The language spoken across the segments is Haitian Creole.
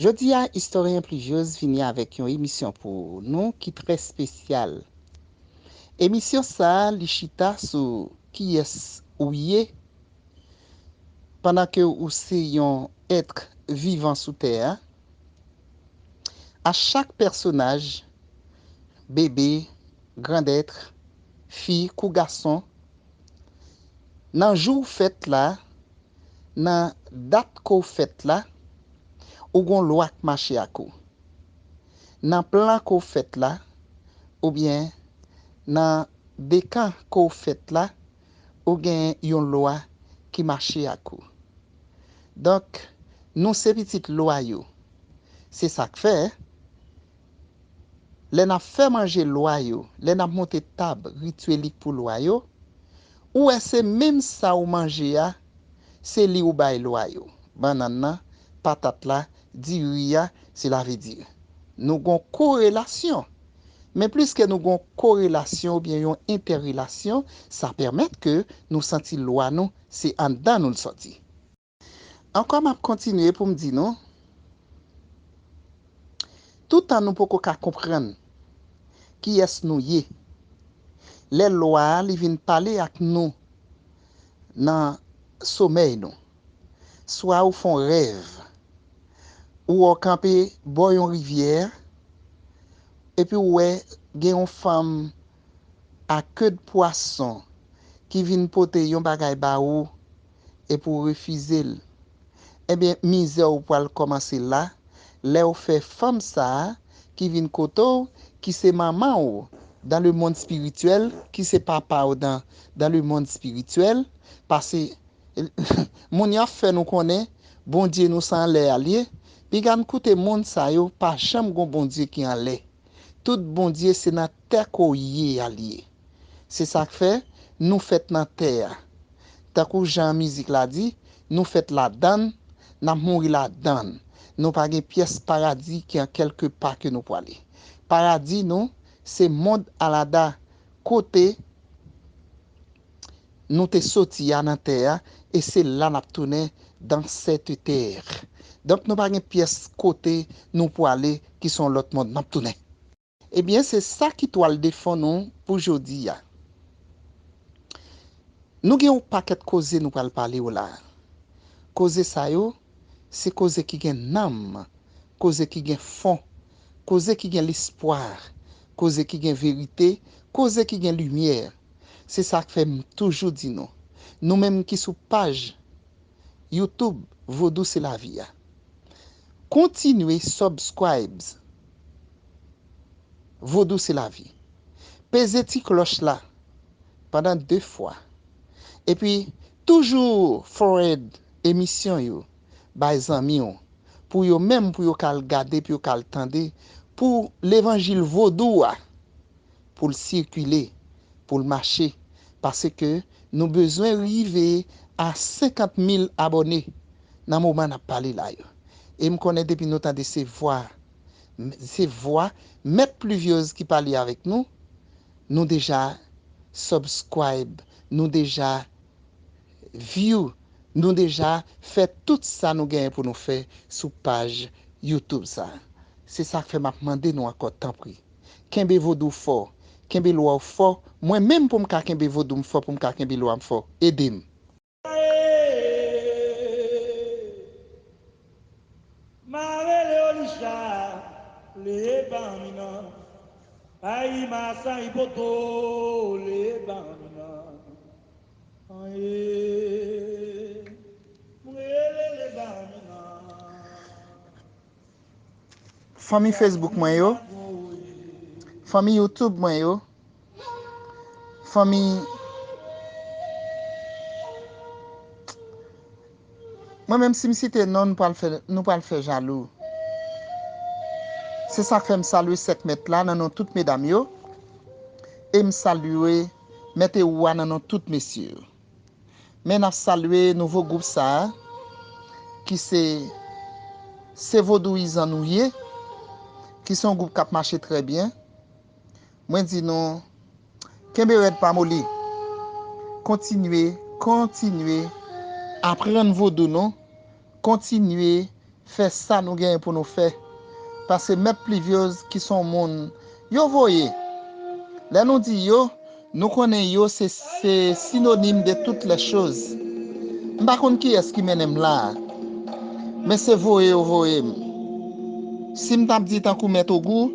Jodi a Istoryen Pluviose vini avèk yon emisyon pou nou ki trè spesyal. Emisyon sa li chita sou kiyès ou ye pandan ke ou se yon ètr vivan sou tè a. A chak pèsonaj, bebe, grandètr, fi kou gason, Nan jou w fèt la, nan dat ke w fèt la, ou gen yon lwa k mache ak ou. Nan plan ke w fèt la, oubyen nan dekan ke w fèt la, ou gen yon lwa ki mache ak ou. Donk, nou se pitit lwa yo. Se sa k fè. lè n ap fè manje lwa yo, lè n ap monte tab rityèlik pou lwa yo, ou wè se menm sa ou manje a, se li ou bay lwa yo, bannann nan, patat la, diri a, sela ve di, nou gon korelasyon. Men pliske nou gon korelasyon oubyen yon entèrelasyon, sa pèmèt ke nou santi lwa nou se anndan nou l sòti. Ankò map kontinye poum di nou, toutan nou poko ka konprann kiyès nou ye, lè lwa a li vin pale ak nou nan somèy nou, swa ou fon rèv, ou wè w kanpe bò yon rivyè, epi w wè gen yon fanm a ked pwason ki vin pote yon bagay ba ou, epi w refize l, enben mizè w pral kòmanse la lè w fè fanm sa a ki vin kote w ki se manman w dan lemonn espirityèl ki se papa w dan dan lemonn espirityèl pase moun yo ap fè nou konnen Bondye nou sa anlè a l ye piga n koute moun sa yo pa janm gon Bondye ki anlè tout Bondye se nan tè ke w ye a l ye. Se sa k fè, nou fèt nan tè a. Tankou jan mizik la di, nou fèt ladan l, n ap mouri ladan l. Nou pa gen pyès paradi ki an kèlke pa ke nou pwale. Paradi nou, se mond alada kote nou te soti a nan tè a e se la n ap tounen dans cette terre. Donk nou pa gen pyès kote nou pwale ki son lòt mond n ap tounen. Ebyen se sa ki twal de fon nou pou jodi a. Nou gen yon pakèt koze nou pral pale w la. Koze sa yo, se koze ki gen nanm, koze ki gen fon, koze ki gen lespwa, koze ki gen verite, koze ki gen limyè. Se sa k fè m toujou di nou, nou menm ki sou paj YouTube Vodou se lavi a, kontinye subscribes. Vodou se lavi. Peze ti klòch la pandan 2 fwa. Epi toujou forward emisyon yo bay zanmi w pou yo menm pou yo ka al gade pou yo ka al tande pou levanjil vodou a pou l sikile pou l mache paske nou bezwen rive a 50 mil abòne nan moman n ap pale la yo. E m konnen depi nou tande se vwa se vwa mèt pluviose ki pale avèk nou nou deja subscribe nou deja view nou deja fè tout sa nou genyen pou nou fè sou paj YouTube sa se sak fè map mande nou ankò tanpri kenbe vodou fò kenbe lwa w fò mwen menm poum ka kenbe vodoum fò poum ka kenbe lwam fò edem. Fanmi Facebook mwen yo, fanmi YouTube mwen yo. Fanmi Mwen menm si m site non nou pral fè jalou. Se sa k fè m salye sèk mèt la nan non tout medam yo e m salye mèt e ou a nan non tout mesye yo. Men n ap salye nouvo gwoup sa a ki se Se Vodouyizan nou ye ki se yon gwoup k ap mache trè byen. Mwen di nou kenbe rèd pa moli. Kontinye, kontinye aprann vodou nou, kontinye fè sa nou genyen pou nou fè. Pase mèt Pluviose ki son moun yo voye. Lè nou di yo, nou konnen yo se se sinonim de tout lè choz. M pa konn kiyès ki mennen m la a. Men se voye yo voye m. Si m t ap di tankou mèt Ogou.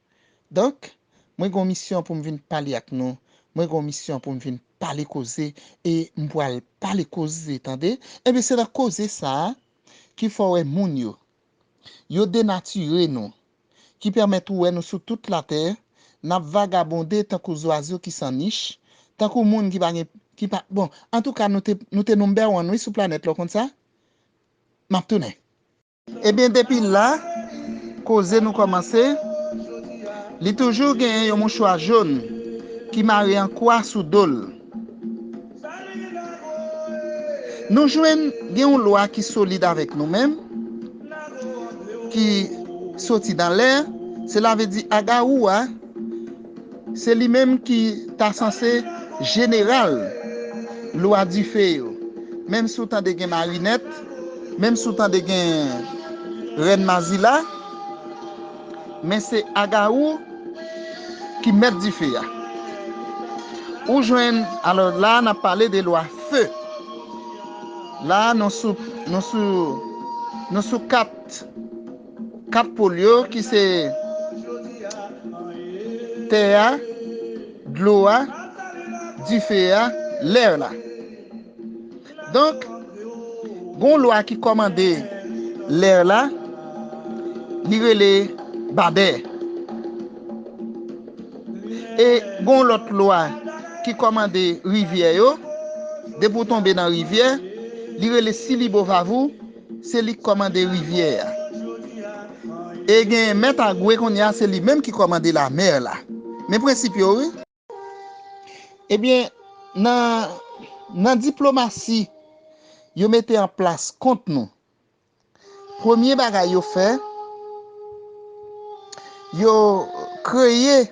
Donk, mwen gen yon misyon pou m vin pale ak nou, mwen gen yon misyon pou m vin pale koze e m pral pale koze, tande. Enben, se nan koze sa a ki fè w wè moun yo, yo denatire nou, ki pèmèt ou wè nou sou tout latè, n ap vagabonde tankou zwazo ki san nich, tankou moun ki pa gen, ki pa, bon, antouka nou te, nou te nonbèwan wi sou planèt la, w konn sa? M ap tounen. Ebyen depi la koze nou kòmanse li toujou gen yon mouchwa jaune ki mare an kwa sou dol nou jwenn gen yon lwa ki solid avèk nou menm ki soti dan lè se la vle di agaroua Se li menm ki ta sanse jeneral lwa dife yo. Menm si w tande gen marinèt, menm si w tande gen rèn mazila, men se Agawou ki mèt dife a. Ou jwenn, alò la n ap pale de lwa fe. La nou sou, nou sou, nou sou kat. Kat pol yo ki se tè a, dlo a, dife a, lèr la. Donk, gon lwa ki kòmande lèr la, li rele Babè. E gon lòt lwa ki kòmande rivyè yo, depi w tonbe nan rivyè, li rele Silibovavou. Se li k kòmande rivyè a. E gen mèt agwe kounye a se li menm ki kòmande lamè la. Men prensip yo wi. Ebyen nan nan diplomasi yo mete an plas kont nou premye bagay yo fè yo kreye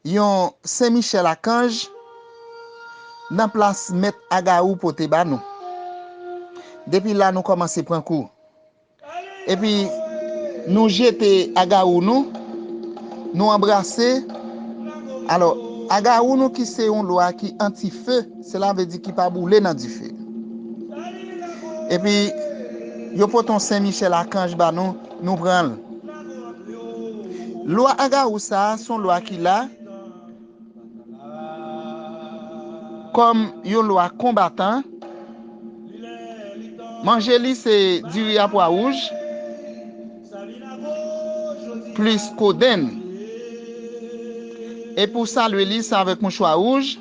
Yon Sen Michel Akanj nan plas Mèt Agawou pote ba nou. Depi la nou kòmanse pran kou. Epi nou jete Agawou nou, nou anbrase, alò Agawou nou ki se yon lwa ki anti fe, sela vle di ki pa boule nan dife. Epi yo pote yon Sen Michel Akanj ba nou. Nou pran l. Lwa Angarou sa a s on lwa ki la kòm yon lwa konbatan. Manje li se diri a pwa wouj plis kodenn. E pou w salwe li se avèk mouchwa wouj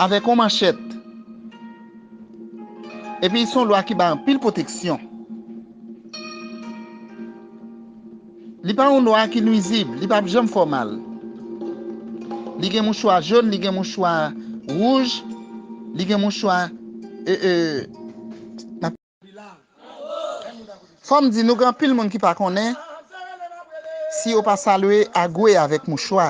avèk on manchèt. Epi s on lwa ki bay anpil pwoteksyon. Li pa yon lwa ki nwizib, li pap janm fè w mal. Li gen mouchwa jón, li gen mouchwa wouj, li gen mouchwa eeuh. Fòm di nou gen anpil moun ki pa konnen si yo pa salwe agwe avèk mouchwa.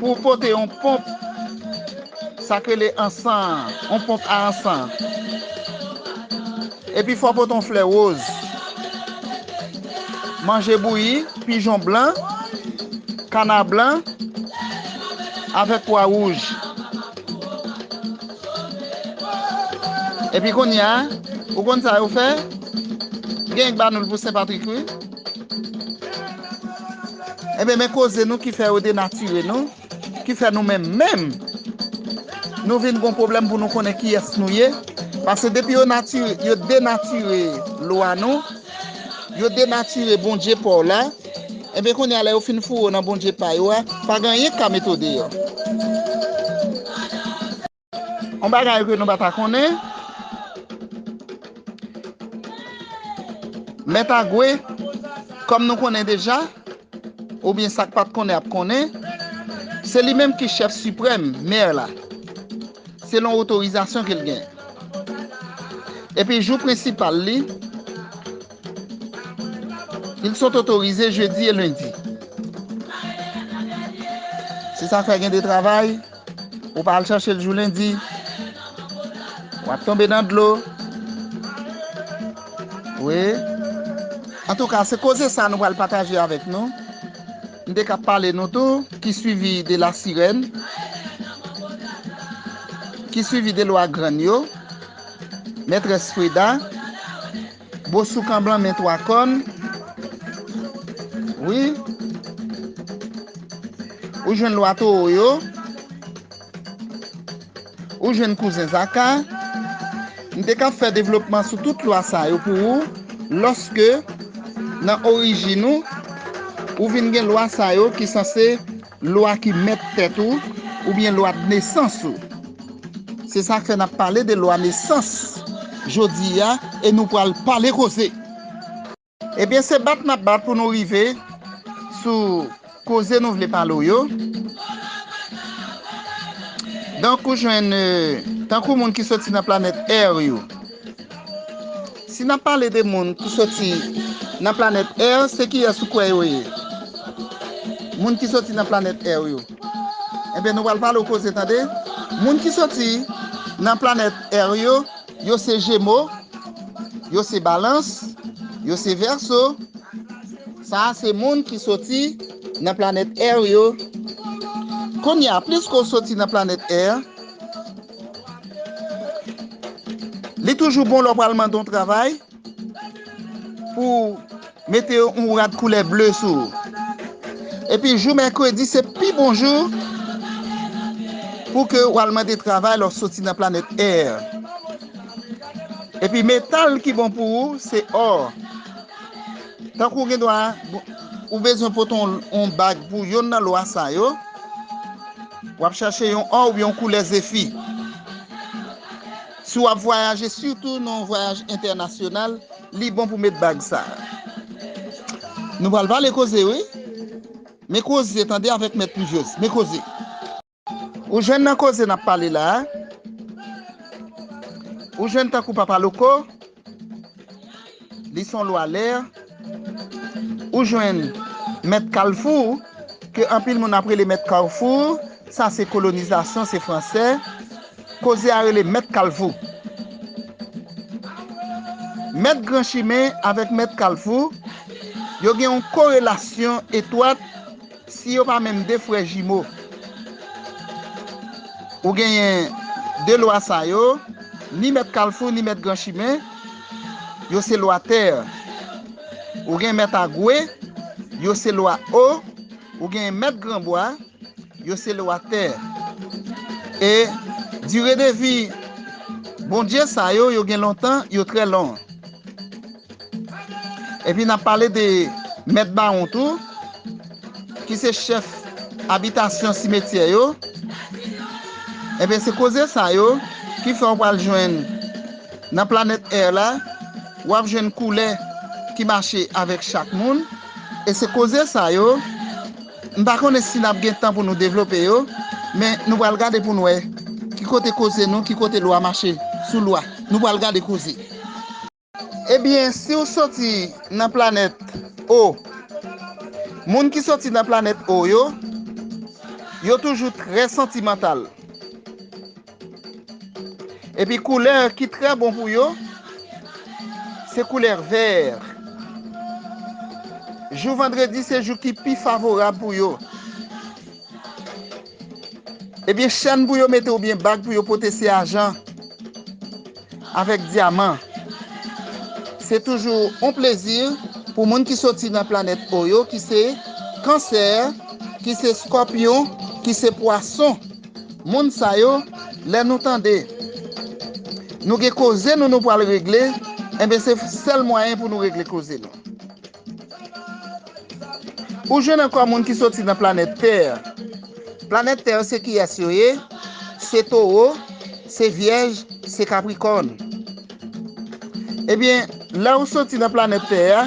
Pou w pote yon ponp, sa k rele ansan an, yon ponp a ansan. Epi fò w pote yon flè woz. Manje bouyi, pijon blan, kana blan, avèk pwa wouj. Epi kounye a, ou konn sa yo fè? Gen yon k ba nou l pou Sen Patrik wi. Ebyen men koze nou ki fè yo denatire nou, ki fè nou menm menm nou vin gon pwoblèm pou nou konnen kiyès nou ye, pase depi yo natire, yo denatire lwa nou, yo denatire Bondye pa w la, ebyen kounye a lè yo fin foure w nan Bondye pa yo a, pa gen anyen k ka mete w deyò. On bagay ke nou pa ta konnen, Mèt Agwe, kòm nou konnen deja, oubyen sa k pa t konnen ap konnen, se li menm ki chèf siprèm, mè la, selon otorizasyon ke l gen. Epi jou prensipal li, il sont otorize jedi e lendi. Se sa k fè gen de travay. Ou pa al chache l jou lendi. W ap tonbe nan dlo. Wi. Antouka, se koze sa nou pral pataje avèk nou. M te ka pale nou tou ki swivi de la sirèn. Ki swivi de lwa grann yo. Mètrès Freda. Bosoukan blan men 3 kòn wi ou jwenn lwa towo yo ou jwenn kouzen zaka m te ka fè devlopman sou tout lwa sa yo pou ou lòske nan orijin ou ou vin gen lwa sa yo ki sanse Lwa ki mèt tèt ou, oubyen lwa d'nesans ou. Se sa k fè n'ap pale de lwa nesans jodi a e nou pral pale koze. Ebyen se bat n'ap bat pou nou rive sou koze nou vle pale w yo. Donk ou jwenn tankou moun ki soti nan planèt Ère yo. Si n ap pale de moun ki soti nan planèt è, se kiyès ou kwè yo ye? Moun ki soti nan planèt è yo. Enben, nou pral pale w koze tande. Moun ki soti nan planèt è yo, yo se Jemo, yo se Balans, yo se Vèso. Sa a se moun ki soti nan planèt è yo. Kounye a, pliske w soti nan planèt è, Li toujou bon lè w pral mande yon travay pou w mete yon rad koulè ble sou ou. Epi jou mèkredi se pi bon jou pou ke w al mande travay lè w soti nan planèt Air. Epi metal ki bon pou ou se or. Tankou gen dwa, ou bezwen pote yon bag pou yonn nan lwa sa yo, w ap chache yon or oubyen yon koulè zefi. Si w ap vwayaje, sitou nan yon vwayaj entènasyonal, li bon pou met bag sa. Nou pral vale koze wi. Men koze tande avèk mèt Pluviose. Men koze. Ou jwenn nan koze nap pale la a? Ou jwenn tankou papa loko? Li son lwa lè? Ou jwenn mèt kalfou, ke anpil moun ap rele mèt kawfou, sa se kolonizasyon, se fransè, koze a rele mèt kalfou. Mèt gran chimen avèk mèt kalfou, yo gen yon korelasyon etwat. Si yo pa menm de frè jimo. Ou genyen de lwa sa yo, ni mèt kalfou ni mèt gran chimen, yo se lwa tè. Ou gen mèt agwe, yo se lwa o, ou genyen mèt gran bwa, yo se lwa tè. E dire de vi Bondye sa yo, yo gen lontan, yo trè long. Epi n ap pale de mèt bawon tou, ki se chèf abitasyon simetyè yo, enben se koze sa yo ki fè w pral jwenn nan planèt è la, w ap jwenn koulè ki mache avèk chak moun, e se koze sa yo, m pa konnen si n ap gen tan pou nou devlope yo, men nou pral gade pou n wè ki kote koze nou, ki kote lwa mache sou lwa, nou pral gade koze. Ebyen si w soti nan planèt O Moun ki soti nan planèt O yo Yo toujou trè santimantal Epi koulè ki trè bon pou yo Se koulè vè Jou vandredi se jou ki pi favorab pou yo Ebyen chèn pou yo mete oubyen bag pou yo pote se ajan avèk dyaman. Se toujou on plezi pou moun ki soti nan planèt O yo ki se, Kansè, ki se Skòpyon, ki se Pwason. Moun sa yo, lè nou tande nou gen koze nou nou pwal regle, enben se sèl mwayen pou nou regle koze nou. Ou jwenn ankò moun ki soti nan planèt tè. Planèt tè yo se kiyès yo ye? Se towo, se vyèj, se kaprikòn. Ebyen, lè ou soti nan planèt tè a,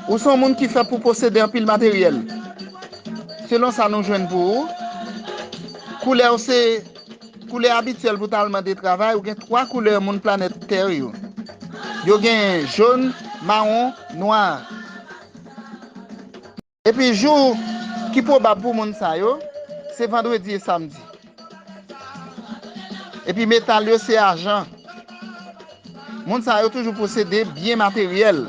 ou son moun ki fèt pou posede anpil materyèl. Selon sa nou jwenn pou ou, koulè ou se. Koulè abityèl pou tal mande travay ou gen 3 koulè moun planèt tè yo. Yo gen jaune, marron, noir. Epi jou ki pwobab pou moun sa yo se vendredi e samedi. Epi metal yo se argent, Moun sa yo toujou posede byen materyèl.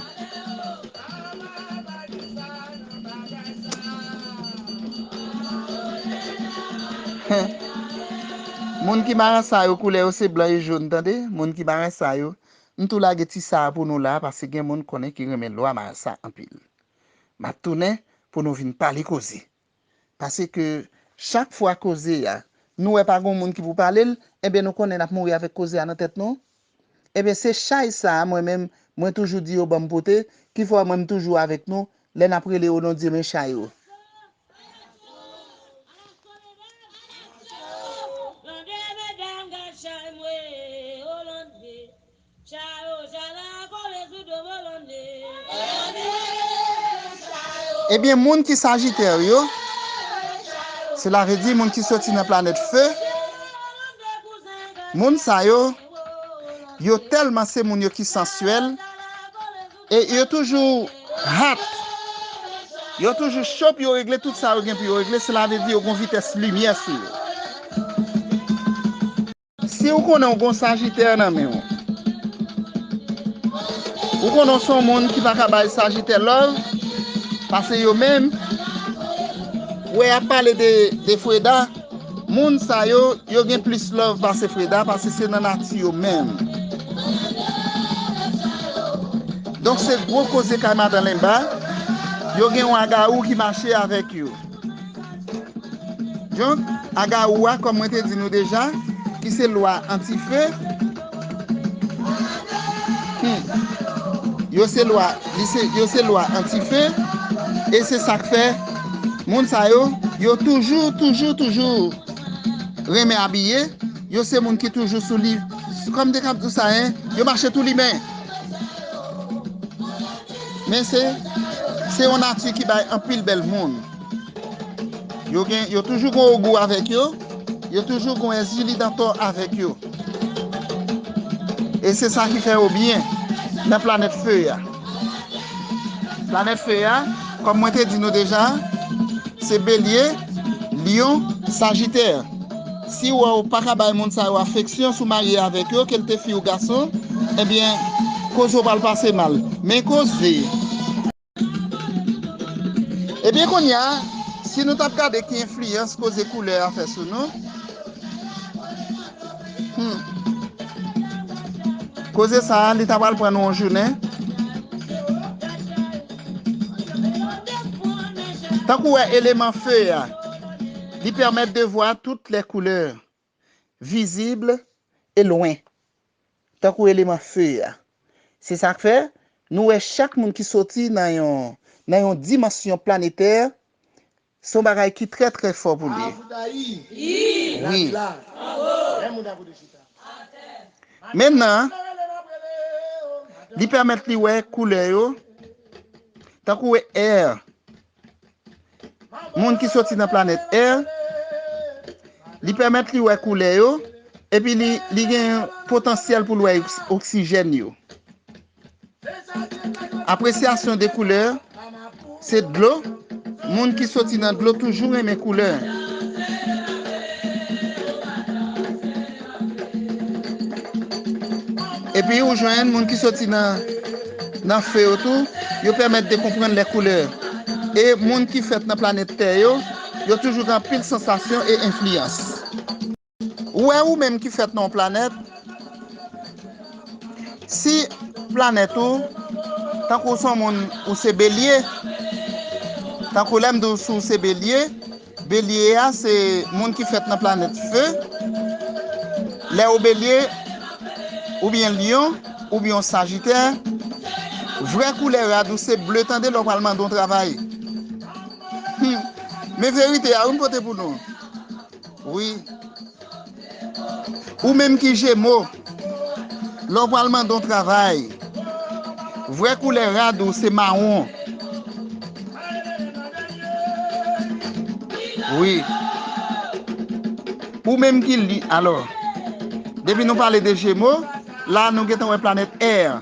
Moun ki marasa yo koulè yo se blan e jón tande moun ki marasa yo m tou lage ti sa a pou nou la paske gen moun konnen ki renmen lwa marasa anpil map tounen pou nou vin pale koze. Paseke chak fwa koze a nou wè pa gon moun ki pou pale l, enben nou konnen n ap mouri avèk koze a nan tèt nou. Enben se chay sa a mwen menm mwen toujou di yo ban m pote ki fè mwen m toujou avèk nou lè n ap rele o non Dye men chay o. Chayo chala kole sou do Bolonde. Ebyen moun ki sajitè yo, sela vle di moun ki soti nan planèt fe, moun sa yo, yo tèlman se moun yo ki sansyèl, e yo toujou hot, yo toujou cho pou yo regle tout sa yo gen pou yo regle, sela vle di yo gen yon vitès limyè sou yo. Si ou konnen ou gon Sagittaire nan menw. Ou konnen ou son moun ki paka bay Sagittaire love, pase yo menm, wè yap pale de Freda, moun sa yo, yo gen plis love pase Freda pase se nan nati yo menm. Donk se gwo koze kay madan Lenba, yo gen yon agarou ki mache avèk yo. Donk, Agawou a, kòm mwen te di nou deja, ki se lwa antife, yo se lwa, yo se lwa antife, e se sa k fè moun sa yo, yo toujou, toujou, toujou renmen abiye, yo se moun ki toujou sou li, kòm m te kab di w sa, yo mache tou limen. Men se se yon nati ki bay anpil bèl moun. Yo gen yo toujou gen ogou avèk yo, yo toujou gen èzili dantò avèk yo. E se sa ki fè yo byen nan planèt fe a. Planèt fe a, kòm mwen te di nou deja, se belye, lyon, sajitè. Si wè w paka bay moun sa yo afeksyon si w marye avèk yo, ke l te fi ou gason, ebyen koze w pral pase mal. Men koze. Ebyen kounya si nou t ap gade ki enfliyans koze koulè a fè sou nou, hum koze sa a li ta pral pran nou yon jounen. Tank ou wè eleman feu a. Li pèmèt de vwa tout lè koulè, vizib e lwen, tankou eleman fe a. Se sa k fè, nou wè chak moun ki soti nan yon nan yon dimansyon planetè, se yon bagay ki trè trè fò pou li. Wi. Men nan, li pèmèt li wè koulè yo, tankou wè air Moun ki soti nan planèt Air, li pèmèt li wè koulè yo, epi li gen potansyèl pou l wè oksijèn yo. Apresyasyon de koulè se dlo, moun ki soti nan dlo toujou renmen koulè. Epi ou jwenn moun ki soti nan fe yo tou, yo pèmèt de konprann lè koulè. E moun ki fèt nan planèt tè yo, yo toujou gen anpil sansasyon e enfliyans. Ou wè ou menm ki fèt nan yon planèt, si planèt ou, tankou ou se yon moun ou se belye, tankou lè m di w si w se belye, Belye a se moun ki fèt nan planèt Fe, lè ou Belye oubyen Lyon oubyen w Sajitè, vrè koulè rad ou se ble tande lè w pral mande yon travay. Humm men verite a wi m pote pou nou wi. Ou menm ki jemo, lè w pral mande yon travay, vrè koulè rad ou se mawon. Wi. Ou menm ki li, alò, depi nou pale de jemo, la nou gentan wè planèt air.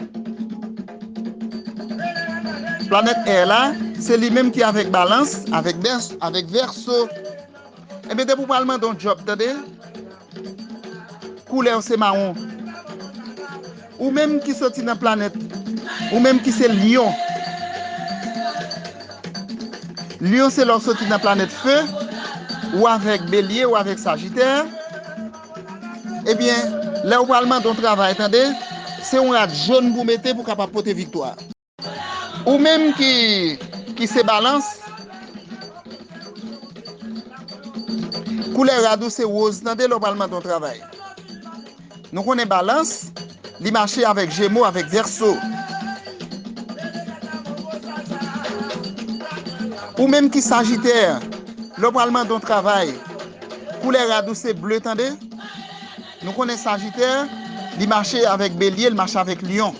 Planèt air la, se li menm ki avèk balans, avèk vèso. Ebyen depi ou pral mande yon djòb tande koulèw se mawon ou menm ki soti nan planèt ou menm ki se lyon lyon se lèw soti nan planèt fe ou avèk belye ou avèk sajitè ebyen lèw pral mande yon travay tande se yon rad jòn pou mete pou kapab pote viktwa. Ou menm ki ki se balans. Koulè rad ou se woz tande lè w pral mande yon travay. Nou konnen balans li mache avèk jemo avèk vèso. Ou menm ki sajitè lè w pral mande yon travay koulè rad ou se ble tande. Nou konnen sajitè, li mache avèk belye, li mache avèk lyon.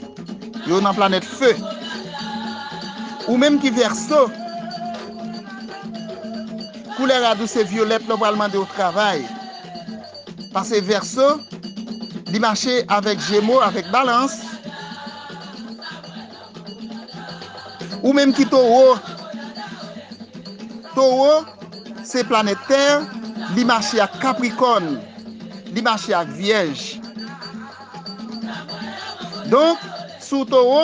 Yo nan planèt fe. Ou menm ki vèso, koulè rad ou se vyolèt lè ou pral mande yon travay. Pase vèso, li mache avèk jemo, avèk balans. Ou menm ki towo. Towo se planèt tè li mache ak kaprikòn li mache ak vyèj donk si w towo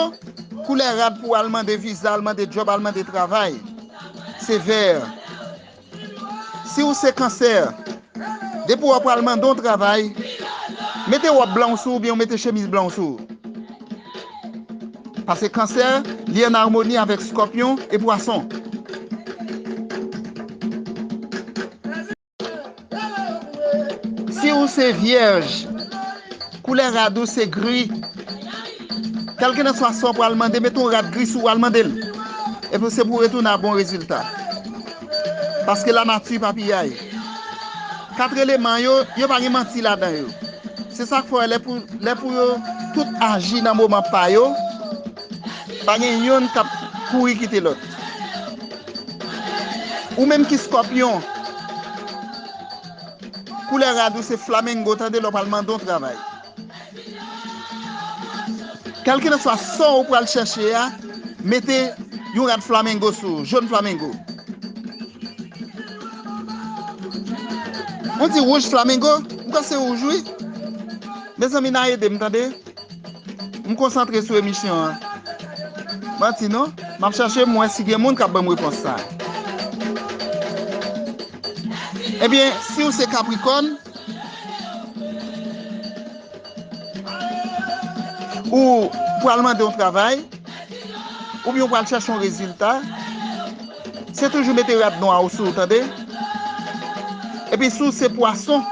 koulè rad pou w al mande viza al mande djòb al mande travay se vè. Si ou se kansè, depi w ap pral mande yon travay, mete wòb blan w sou ou oubyen mete chemiz blan w sou ou. Pase kansè, li an armoni avèk skòpyon e pwason. Si ou se vyèj, koulè rad ou se gri, kèlkelanswa sa w pral mande, mete yon rad gri sou ou al mande l. Epi se pou w retounen a bon rezilta. Paske lanati pa piyay. Kat eleman yo, yo pa gen manti ladan yo. Se sa k fè lè pou yo tout aji nan moman pa yo, pa gen youn k ap kouri kite lòt. Ou menm ki Skòpyon, koulè rad ou se flamengo tande lè w pral mande yon travay. Kèlkilanswa son ou pral chèche a, mete yon rad flamengo sou ou, jón flamengo. Mwen di wouj flamengo? M kwè se wouj wi. Mezanmi na ede m tande. M konsantre sou emisyon an. Manti non. M ap chèche m wè si gen moun k ap ban m repons sa. Ebyen, si ou se kaprikòn. Ou pral mande yon travay, oubyen ou pral chèche yon rezilta, se toujou mete rad nwa ou sou ou tande. Epi si w se pwason,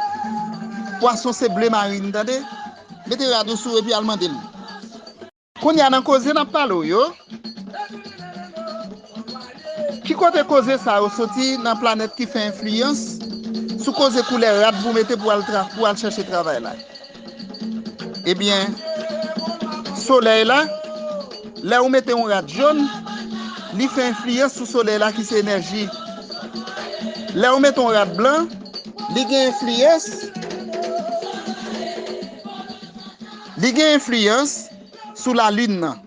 pwason se ble marin tande, mete rad ou sou ou epi al mande l. Kounya nan koze nap pale w yo, ki kote koze sa yo soti nan planèt ki fè enfliyans sou koze koulè rad pou mete pou al tra pou al chèche travay la? Ebyen solèy la, lè ou mete yon rad jòn, li fè enfliyans sou solèy la ki se enèji. Lè ou mete yon rad blan, li gen enfliyans. Li gen enfliyans sou lalin nan.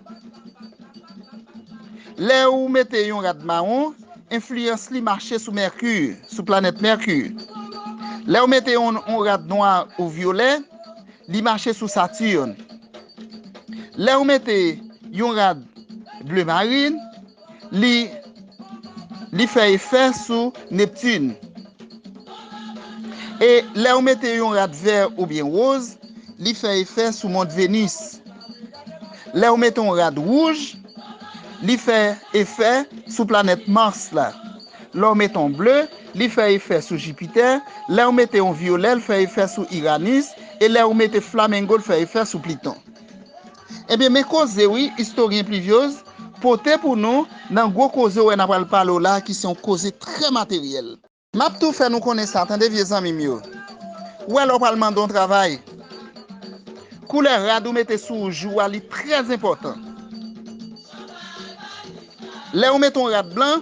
Lè ou mete yon rad mawon, enfliyans li mache sou Mèki, sou planèt Mèki. Lè ou mete yon rad nwa ou vyolè, li mache sou Saturne. Lè ou mete yon rad ble marine, li li fè efè sou Neptune. E lè ou mete yon rad vè oubyen woz, li fè efè sou mond Venus. Lè ou mete yon rad wouj, li fè efè sou planèt Mars la. Lè ou mete yon ble, li fè efè sou Jupiter, lè ou mete yon vyolè l fè efè sou Uranus e lè ou mete flamengo l fè efè sou Pluton. Ebyen men koze wi Istoryen Pluviose pote pou nou nan gwo koze w wè n a pral pale w la ki se yon koze trè materyèl. M ap tou fè nou konnen sa tande vye zanmi m yo, ou wè lè w pral mande yon travay, koulè rad ou mete sou ou jou a li trè enpòtan. Lè ou mete yon rad blan.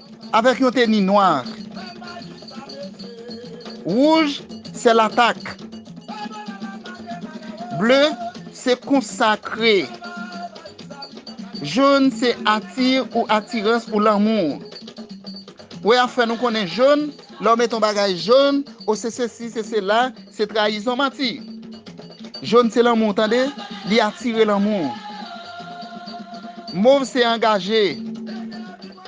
avèk yon teni nwa ak wouj se latak ble se konsakre jòn se ati ou atirans ou lanmou wè ap fè nou konnen jòn lè w met yon bagay jòn o se sesi se sela se trayizon manti jòn se lanmou tande li atire lanmou mov se angaje.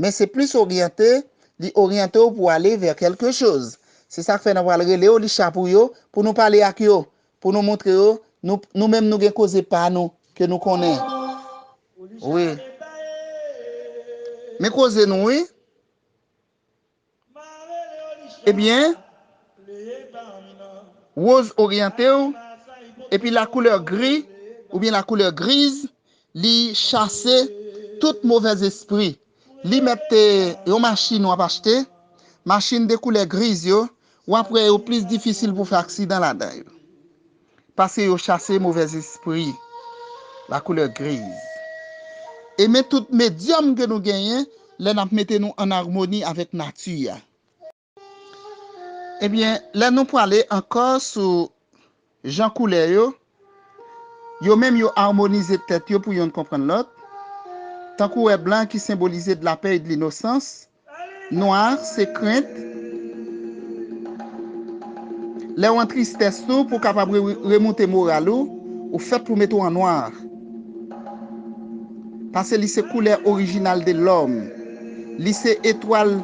Men se plis oryante, li oryante w pou ale vè kèlke choz. Se sa k fè nan pral rele yo li cha pou yo, pou nou pale ak yo, pou nou montre yo nou nou menm nou gen koze pa nou ke nou konnen wi. Men koze nou wi. Ebyen Rose oryantew epi la couleur gris oubyen la couleur grise li chase tout movèz espri li mèt te yon machin wap achte machin de couleur grise yo wap wè yo plis difisil pou fè aksidan ladan yo Paske yo chase movèzespri, la couleur grise. E men tout medyòm ke nou genyen lè n ap mete nou an armoni avèk nati a. Ebyen, lè nou prale ankò sou jan koulè yo, yo menm yo armonize tèt yo pou yonn konprann lòt, tankou wè blan ki senbolize dlapè e dlinosans, Nwa se krent. Lè ou an tristès tou pou kapab remoute moral ou, ou fèt pou mete w an nwa. Pase li se koulè orijinal de lòm. Li se etwal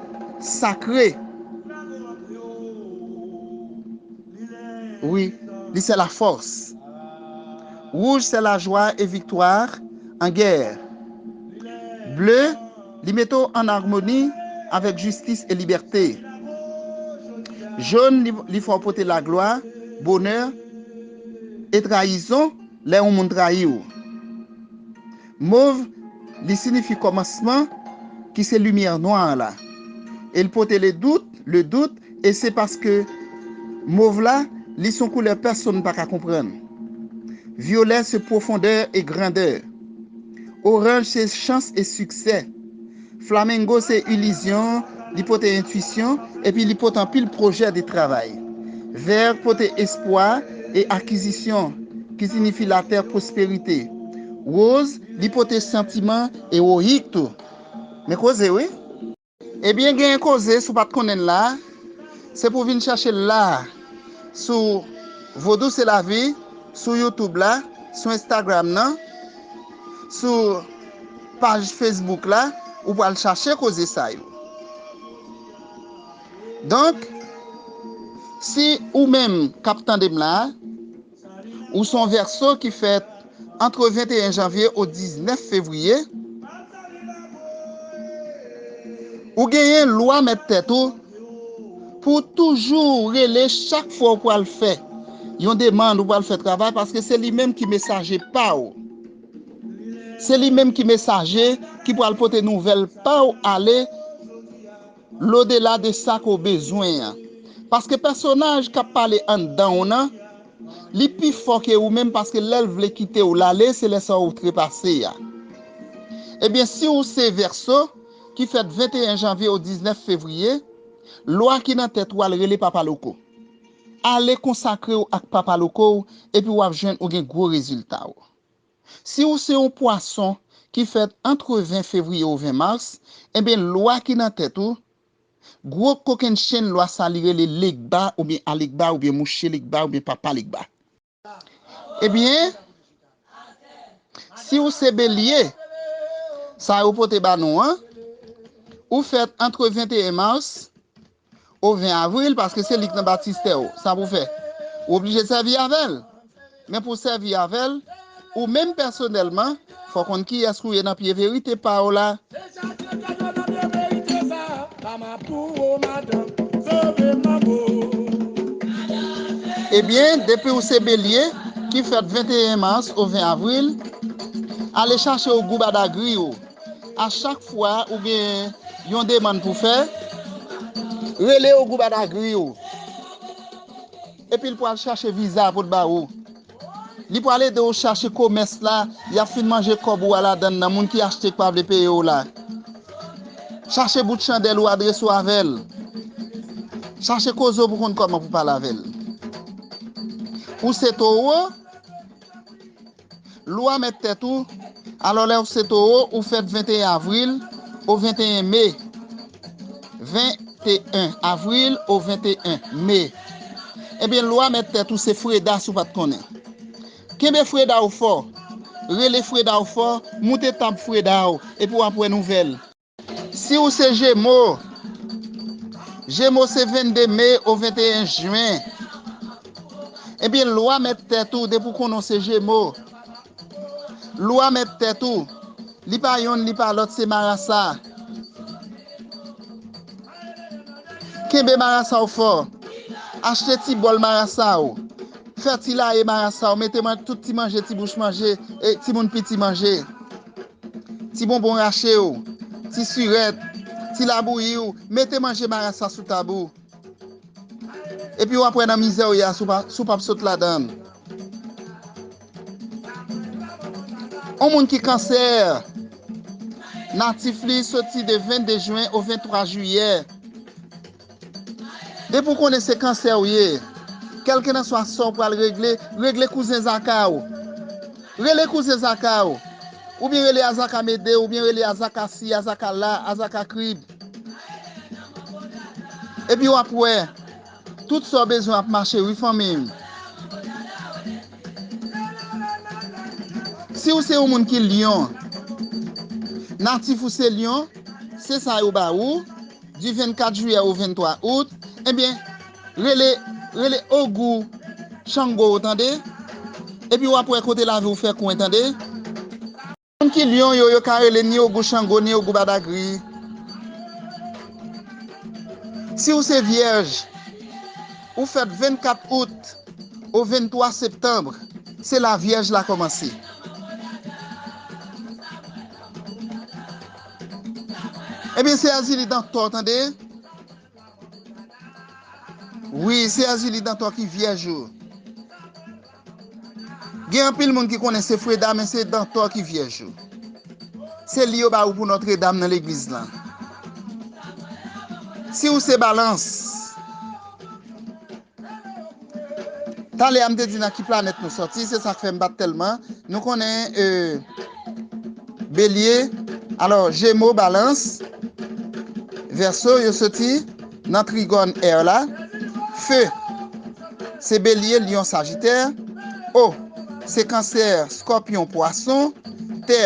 sakre. Wi, li se lafòs. Wouj se lajwa e viktwa an gè. Ble. Li mete w an armoni avèk jistis e libète. Jone li fè w pote laglwa, bonè, e trayizon lè yon moun trayi w. Mov li sinifi kòmansman ki se limyè nwa an la. E li pote le dout, le doute, E se paske Mov la, li son koulè pèsonn pa ka konprann. Vyolè se pwofondè e grandè. Oranj se chans e siksè. Flamengo se ilizyon, li pote entwisyon, epi li pot anpil pwojè de travay. Vèr pote espwa e akizisyon, ki sinifi latè pwosperite. Woz, li pote santiman ewoyik tou. Men koze wi! Ebyen gen yn koze si w pat konnen l la se pou w vin chache l la a sou Vodou se lavi sou youtube la sou instagram nan sou paj facebook la ou pral chache koze sa yo donk si ou menm kap tande m la a. Ou se yon Vèso ki fèt antre 21 janvye ou 19 fevriye, ou genyen lwa mèt tèt ou pou w toujou rele chak fwa ou pral fè yon demann, ou pral fè travay paske se li menm ki mesaje pa w. Se li menm ki mesaje ki pral pote nouvèl pa w ale. lodela de sa ke w bezwen an. Paske pèsonaj k ap pale anndan w nan, li pi fò ke ou menm paske lè l vle kite w l ale se lè sa ou trepase a. Ebyen si w se Vèso ki fèt 21 janvye ou 19 fevriye, lwa ki nan tèt ou a l rele Papa Loko. Ale konsakre w ak Papa Loko w epi w ap jwenn ou gen gwo rezilta w. Si ou se yon pwason ki fèt antre 20 fevriye ou 20 mars, enben lwa ki nan tèt ou, gwo kokenn chenn lwa sa li rele Legba oubyen Alegba oubyen Mouche Legba oubyen Papa Legba. Ebyen, si ou se Belye, sa yo pote ba nou an, ou fèt antre 21 mars O 20 avril paske se li k nan batistè w sa pou w fè? Ou oblije sèvi avè l. Men pou w sèvi avè l, ou menm pèsonèlman, fò w konn kiyès k ou ye nan pye verite pa w la. Ebyen, depi w se Belye, ki fèt 21 mas o 20 avril, ale chache w gou badagri w. A chak fwa ou gen yon demann pou fè, rele yon gwoup Adagri ou. Epi l pral chache viza pou l ba ou. Li pral ede ou chache komès la, y ap fin manje kòb ou a ladann nan, moun ki achte k pa vle peye w la. Chache bout chandèl ou adrese w avè l. Chache koze w pou konn kòman pou pale avè l. Ou se Towo? Lou a mèt tèt ou, alò lè ou se towo ou fèt 21 avril ou 21 me, 21 avril ou 21 me, ebyen lou a mèt tèt ou se freda si ou pat konnen. Kenbe freda ou fò, rele freda ou fò, moute tanp freda ou epi wap wè nouvèl. Si ou se jemo, jemo se 22 me ou 21 jyen, ebyen lwa mèt tèt ou depi ou konnen ou se jemo, lwa mèt tèt ou, li pa yonn li pa lòt se marasa. Kenbe marasa ou fò, achte ti bòl marasa ou, fè ti laye marasa ou mete nan tout ti manje ti bouch manje, ti moun piti manje. Ti bonbon rache w, ti sirèt, ti labouyi w mete manje marasa sou tab ou. Epi w ap wè nan mizè w ye a si w pap sot ladan l. On moun ki kansè, natif li soti de 22 jen o 23 jiyè. Depi w konnen se kansè w ye, kèlkenanswa sa w pral regle, regle kouzen zaka w. Rele kouzen zaka w. Oubyen rele azaka mede, oubyen rele azaka si, azaka la, azaka krib. Epi w ap wè, tout sa w bezwen ap mache wi fanmi m. Si w se yon moun ki lyon, natif ou se lyon, se sa yo ba ou. Du 24 juillet au 23 août Ebyen rele rele ogou Chango w tande Epi w ap wè kote lavi w fè kwen tande Moun ki Lyon yo yo ka rele ni ogou Chango ni ogou Badagri Si w se vyèj ou fèt 24 août au 23 septembre se la vyèj la kòmanse. Ebyen se azi li dan tò tande. Wi se azi li dan tò ki vyèj yo. Gen anpil moun ki konnen se freda men se dan tò ki vyèj yo. Se li yo ba ou pou notre dam nan legliz lan. Si ou se balans. Talè a m te di nan ki planèt nou sòti, se sa k fè m pa t tèlman. Nou konnen Belye, alò Jemo, Balans, Vèso yo soti nan trigòn Air la. Fe se Belye, Lyon, Sajitè. O se Kansè, Skòpyon, Pwason. Tè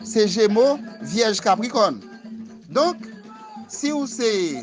se Jemo, Vyèj, Kaprikòn. Donk, si ou se.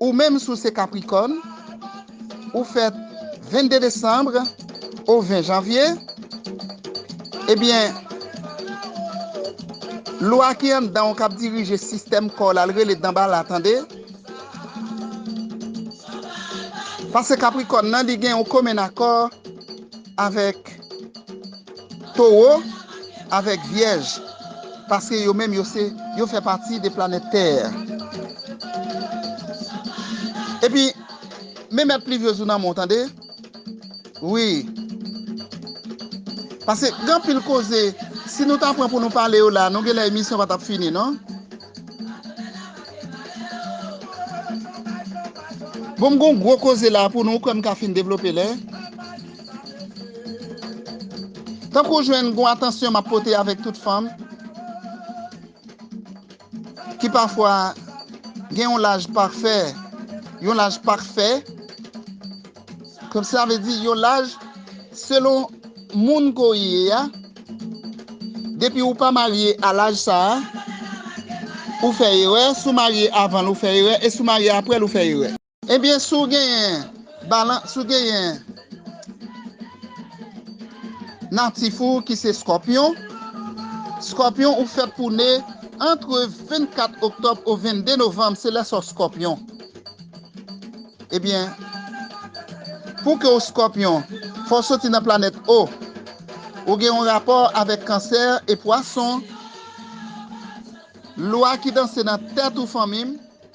Ou menm si w se Capricorn, ou fèt 22 Decembre ou 20 Janvier, ebyen Lwa ki anndan w kap dirije sistèm kò w la l rele Danbala tande. Pase Capricorn nan li gen yon komen akò avèk. Towo avèk Vyèj paske yo menm yo se yo fè pati de planèt tè. Epi men mèt Pluviose ou nan men w tande wi paske gen anpil koze si nou ta pran pou nou pale yo la nou genlè emisyon pa tap fini non. Bon m gen yon gwo koze la pou nou ou kwè m ka fin devlope lè. Tankou w jwenn gon atansyon m ap pote avèk tout fanm ki pafwa gen yon laj pafè, yon laj pakfè, sa vle di yon laj selon moun ke w ye a, depi ou pa marye a laj sa a, ou fè erè, si w marye avan l ou fè erè e si w marye apre l ou fè erè. Ebyen si w genyen balan si w genyen natif ou ki se Scorpion, Scorpion ou fèt pou w ne antre 24 oktòb o 22 novanm se lè sa w Scorpion ebyen pou ke w Scorpion fò w soti nan planèt O ou gen yon rapò avèk Cancer e Poisson lwa ki danse nan tèt ou fanmi m.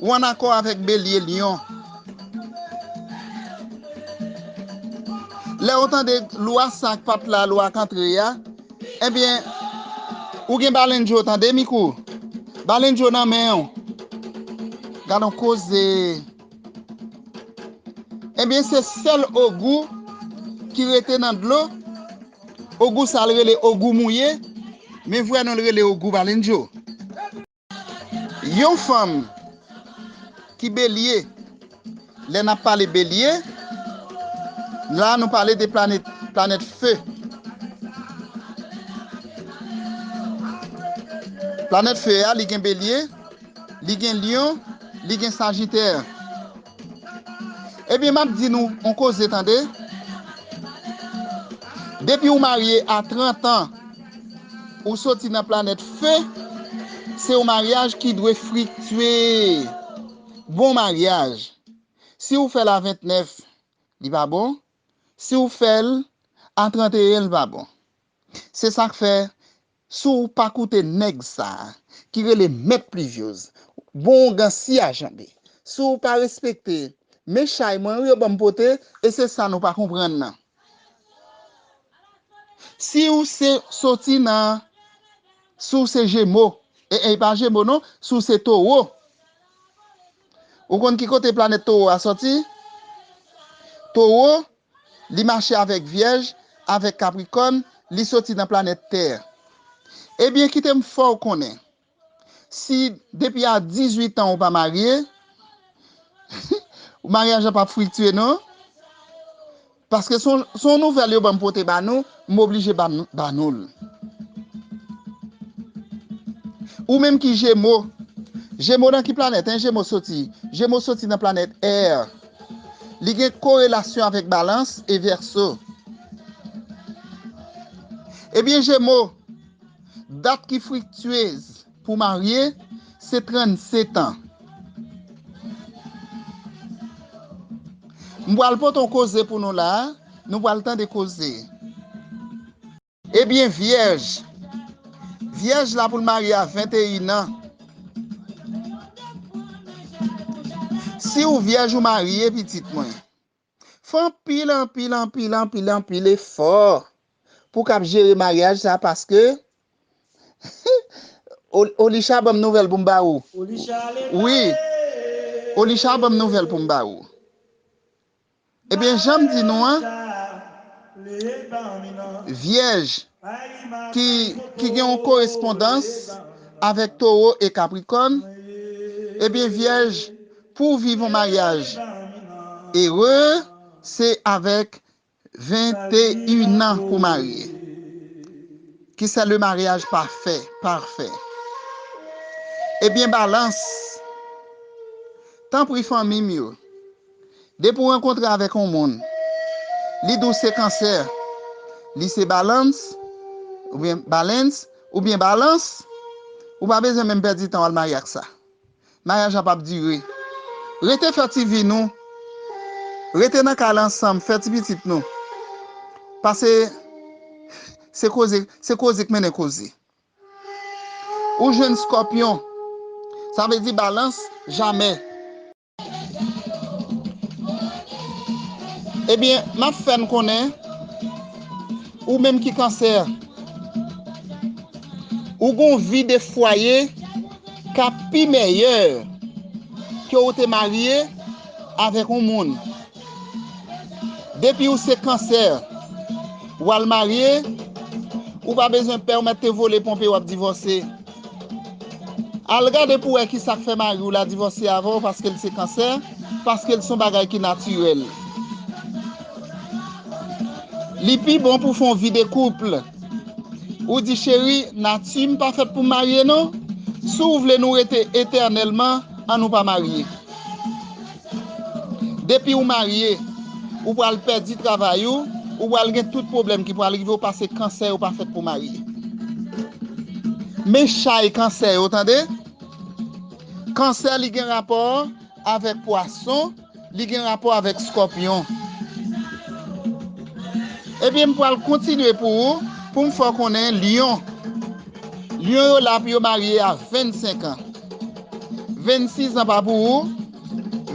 Ou an akò avèk Belye, Lyon. Lè ou tande lwa sa ak pat la, lwa ak antre a, ebyen ou gen Balen Djo tande mikou. Balen Djo nan men ou. Gad on koze. Ebyen se sèl Ogou ki rete nan dlo. Ogou sa l rele Ogou mouye, men vrè non l rele Ogou Balen Djo. Yon fanm ki belye, lè nap pale belye, la nou pale de planèt fe. Planèt fe a li gen belye, li gen lyon, li gen sajitè. Ebyen map di nou on koze tande, depi ou marye a 30 an ou soti nan planèt fe, se yon maryaj ki dwe friktye, bon maryaj, si ou fèl a 29 li pa bon, si ou fèl a 31 li pa bon. Se sak fè Si w pa koute nèg sa a ki rele mèt Pluviose bon ougan si a janbe. Si w pa respekte men chay mwen wi yo ban m pote e se sa nou pa konprann nan. Si w se soti nan si w se jemo e e pa jemo non si w se towo ou konn ki kote planèt towo a soti? Towo Li mache avèk Vyèj, avèk Kaprikòn, li soti nan planèt Tè. Ebyen kite m fè w konnen, si depi a dizuit an ou pa marye, maryaj la p ap friktye non. Paske se yon nouvèl yo ban m pote ba nou. M oblije ba nou l. Ou menm ki jemo. Jemo nan ki planèt 1 jemo soti? Jemo soti nan planèt air. Li gen korelasyon avèk balans e vèso. Ebyen jemo, dat ki friktyez. Pou marye, se 37 ans. M pral pote yon koze pou nou la, nou pral tande koze. Ebyen vyèj. Vyèj la pou l marye a 21 ans. Si ou vyèj ou marye pitit mwen. Fè anpil anpil anpil anpil anpil efò pou kap jere maryaj sa paske Olisha banm nouvèl poum ba ou wi Olisha banm nouvèl poum ba ou ebyen janm di nou an vyèj ki gen yon korespondans avèk Towo e Kaprikòn, ebyen Vyèj pou w viv yon maryaj ere se avèk venteyinan pou marye ki se le maryaj pafè, parfè. Ebyen Balans, tanpri fanmi m yo. Depi w rankontre avèk yon moun, li di w se kansè, li se balans, oubyen balens, oubyen balans, ou pa bezwen menm pèdi tan w al marye ak sa. Maryaj la pap dire. Rete fè ti vi nou, rete nan kay la ansanm, fè ti pitit nou. Pase se koze, se koze k mennen koze. Ou jwenn skòpyon, sa vle di balans, jamè. Ebyen map fè n konnen ou menm ki kansè ou gon vi de fwaye kap pi mèyè ke ou te marye avèk yon moun depi ou se kansè wal marye ou pa bezwen pè ou mèt te vole ponpe wap divòse. Al gade pou wè kisak fè mariw la divòse avèw paskel se kansè paskel son bagay ki natirèl li pi bon pou fon vi de couple ou di cheri nati m pa fèt poum marye non si w vle nou rete etènèlman an nou pa marye. Depi ou marye, ou pral pèdi travay ou, ou pral gen tout pwoblèm ki pral rive ou pase kansè yo pa fèt pou marye. Men chay kansè yo tande. Kansè li gen rapò avèk pwason, li gen rapò avèk skòpyon. Ebyen m pral kontinye pou ou pou m fè w konnen lyon. Lyon yo la pou yo marye a 25 an. 26 an pa pou ou,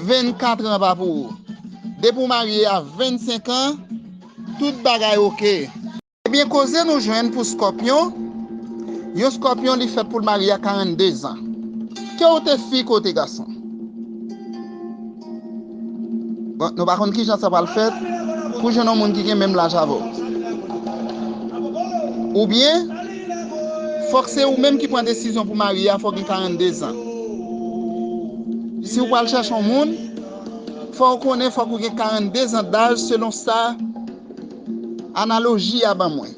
24 an pa pou ou. Depi w marye a 25 an, tout bagay ok. Ebyen koze nou jwenn pou Scorpion, yon Scorpion li fèt pou l marye a 42 zan. Ke w te fi ke w te gason. Nou pa konn kijan sa pral fèt pou w jwenn yon moun ki gen menm laj avè w. Oubyen, fòk se ou menm ki pran desizyon pou w marye a, fò w gen 42 zan. Si w pral chèche yon moun, fò w konnen fòk ou gen 42 zan daj selon sa analoji a ban mwen.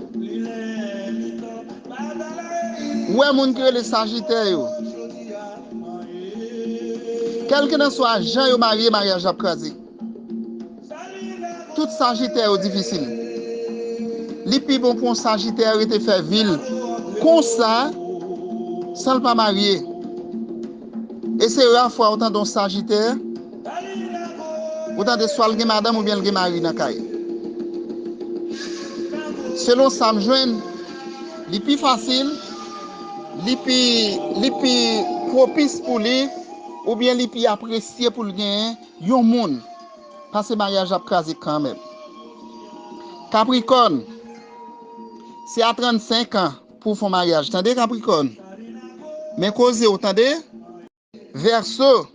Ou wè moun ki rele sajitè yo. Kèlkelanswa jan yo marye maryaj la ap kraze. Tout sajitè yo difisil. Li pi bon pou yon sajitè rete fè vi l konsa san l pa marye. E se ra fwa ou tande yon sajitè ou tande swa l gen madanm oubyen l gen mari nan kay. Selon sa m jwenn li pi fasil. Li pi li pi pwopis pou li oubyen li pi apresye pou l genyen yon moun pase maryaj la ap kraze kanmèm. Kaprikòn Se a 35 an pou w fon maryaj tande kaprikòn men koze w tande. Verseau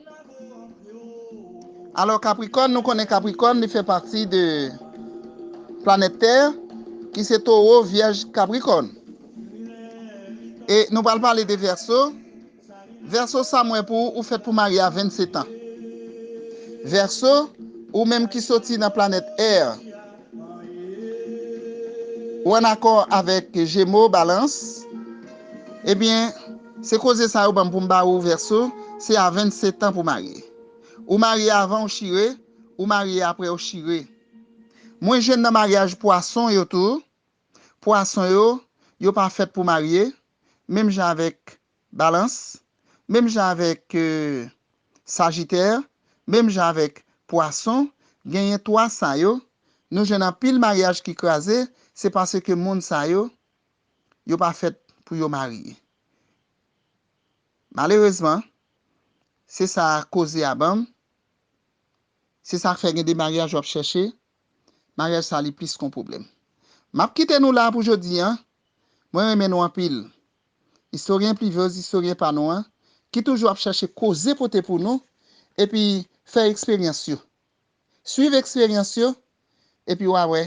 Alò Capricorne nou konnen Capricorne li fè pati de planèt tè ki se toro vyèj Capricorne e nou pral pale de Verseau Verseau sa m wè pou ou ou fèt pou marye a 27 ans Verseau ou menm ki soti nan planèt air ou an akò avèk Gémeaux Balance ebyen Se koze sa yo banm poum ba ou verso se a 20 setan pou marye ou marye avan ou chire ou marye aprè ou chire mwen jwenn nan maryaj pwason yo tou pwason yo yo pa fèt pou marye menm jan avèk balans menm jan avèk sajitè menm jan avèk pwason genyen 3 sa yo nou jwenn anpil maryaj ki kraze se paske moun sa yo yo pa fèt pou yo marye. Malerezman, se sa koze a banm, se sa k fè gen de maryaj w ap chèche, maryaj sa li plis kon pwoblèm. M ap kite nou la pou jodi an, mwen renmen nou anpil. Istoryen Plivyoz, istoryen pa nou an, ki toujou ap chèche koze pote pou nou, epi fè eksperyans yo. Swiv eksperyans yo, epi w a wè